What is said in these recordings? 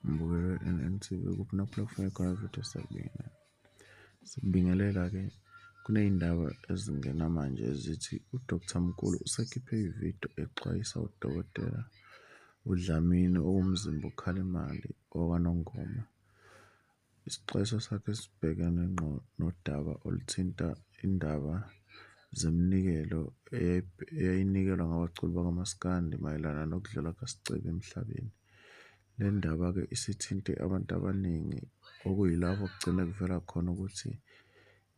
Ngibukele u-N_N_T_V kuphuma ku-platform ekhona futhi esakubona. Sikubingelela ke kuney'ndaba ezingena manje ezithi u-Doctor Mkhulu usekhiphe i-video exwayisa udokotela uDlamini owumzimba okhala imali wakwaNongoma. Isixwayiso sakhe sibhekene ngqo nodaba oluthinta indaba zeminikelo eyayinikelwa ngabaculi bakamaskandi mayelana nokudlula kukaScebi emhlabeni. Le ndaba-ke isithinte abantu abaningi okuyilapho kugcine kuvela khona ukuthi.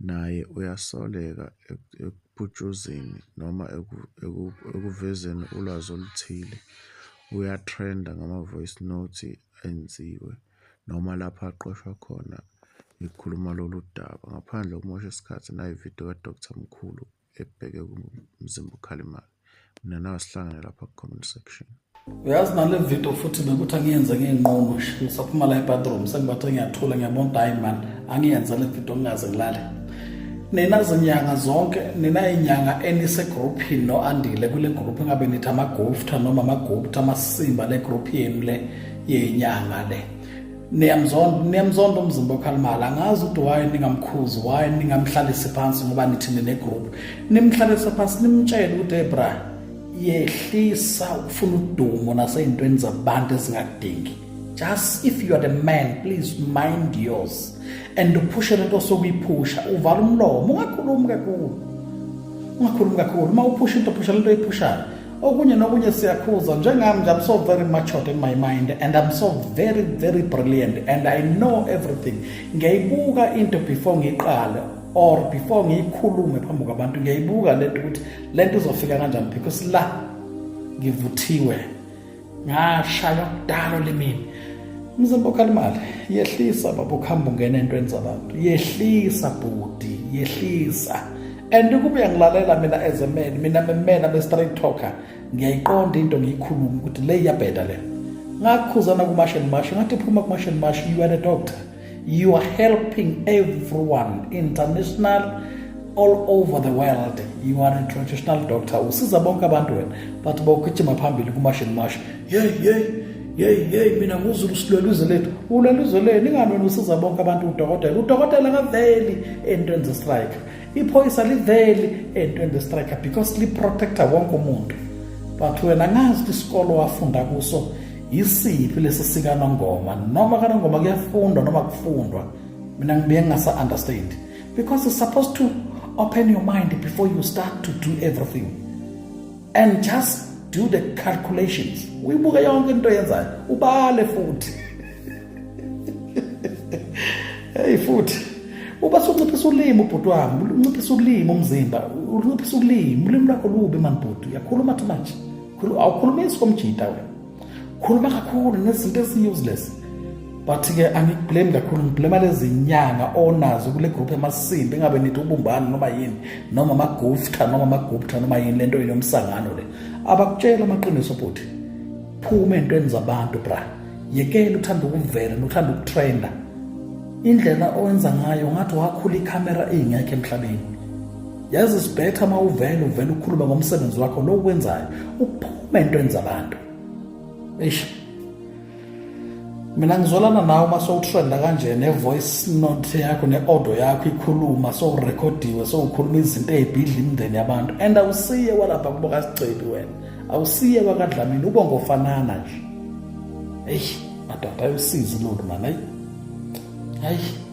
Naye uyasoleka ekuputshuzeni noma ekuvezeni ulwazi oluthile. Uyatrenda ngama-voice note enziwe noma lapho aqoshwa khona ekhuluma lolu daba. Ngaphandle kokumosha isikhathi nayi-video ka-Doctor Mkhulu. ebheke kumzimba uKhalimali mina nawe sihlangane lapha ku-comment section uyazi nale video futhi bekuthi angiyenze ngiyinqomo ngisaphuma la ebathroom sengibathe ngiyathula ngiyabona ukuthi hayi mani angiyenze le video ngingaze ngilale nina zinyanga zonke nina inyanga enisegruphini no-andile kule gruphu engabe nithi amagufta noma amagupta amasimba le gruphu yenu le yenyanga le niyamzonda niyamzonda umzimba okhalimala angazi ukuthi why ningamkhuzi why ningamhlalisi phansi ngoba nithi ninegroup nimhlalise phansi nimtshele ukuthi hey bra yehlisa ukufuna udumo nasey'ntweni zabantu ezingakudingi just if you are the man please mind yours and uphushe lento osokuyiphusha uvala umlomo ungakhulumi kakhulu ungakhulumi kakhulu uma uphusha into phusha lento oyiphushayo okunye nokunye siyakhuza njengami nje i'm so very matured in my mind and i'm so very very brilliant and i know everything ngiyayibuka into before ngiqale or before ngiyikhulume phambi kwabantu ngiyayibuka lento ukuthi lento izofika kanjani because la ngivuthiwe ngashaywa kudalo limini mzimba okhalimali yehlisa baba ukuhamba ungena entweni zabantu yehlisa bhuti yehlisa and kube uyangilalela mina as a man mina memena be-straight talker ngiyayiqonda into ngiyikhuluma ukuthi le iyabheda le ngakukhuzana kumasheni mashi ngathi phuma kumasheni mashi you are a doctor you are helping everyone international all over the world you are a traditional doctor usiza bonke abantu wena but bawugijima phambili kumashini masha yeyi yeyi yeyi yeyi mina nguzulu silwela izwe lethu ulwela izwe lenu ingani wena usiza bonke abantu udokotela udokotela kaveli entweni zestrike iphoyisa liveli entweni zestrike because liprotecta wonke umuntu but wena ngazi isikolo wafunda kuso yisiphi lesi sikanongoma noma kanongoma kuyafundwa noma kufundwa mina ngibuye ngingasa-understand because it's supposed to open your mind before you start to do everything and just do the calculations uyibuke yonke into yenzayo ubale futhi hey futhi uba sunciphisa ulimi ubhuti wami unciphisa ulimi umzimba unciphisa ulimi ulimi lakho lubi mani bhuti uyakhuluma too much awukhulumi isikomjita wena khuluma kakhulu nezinto ezi-useless but-ke angikublame kakhulu ngiblema lezi nyanga onazo kule gruphu emasimbi engabe nithi ubumbani noma yini noma amagufta noma amagupta noma yini le nto yini yomsangano le abakutshela amaqiniso bhuti phuma entweni zabantu bra yekela uthanda ukuvela nothanda ukutrenda indlela owenza ngayo ngathi wakhula ikhamera ingekho emhlabeni yazi sibhetha uma uvele uvele ukhuluma ngomsebenzi wakho lo ukwenzayo uphume entweni zabantu eish mina ngizolana nawe uma sowutrenda kanje ne-voice note yakho ne-audio yakho ikhuluma sowurekhodiwe sowukhuluma izinto ey'bhidla imindeni yabantu and awusiye kwalapha kubo kasigcebi wena awusiye kwakadlamini ube ngofanana nje eyi madoda ayosizi lolu mani ayi ayi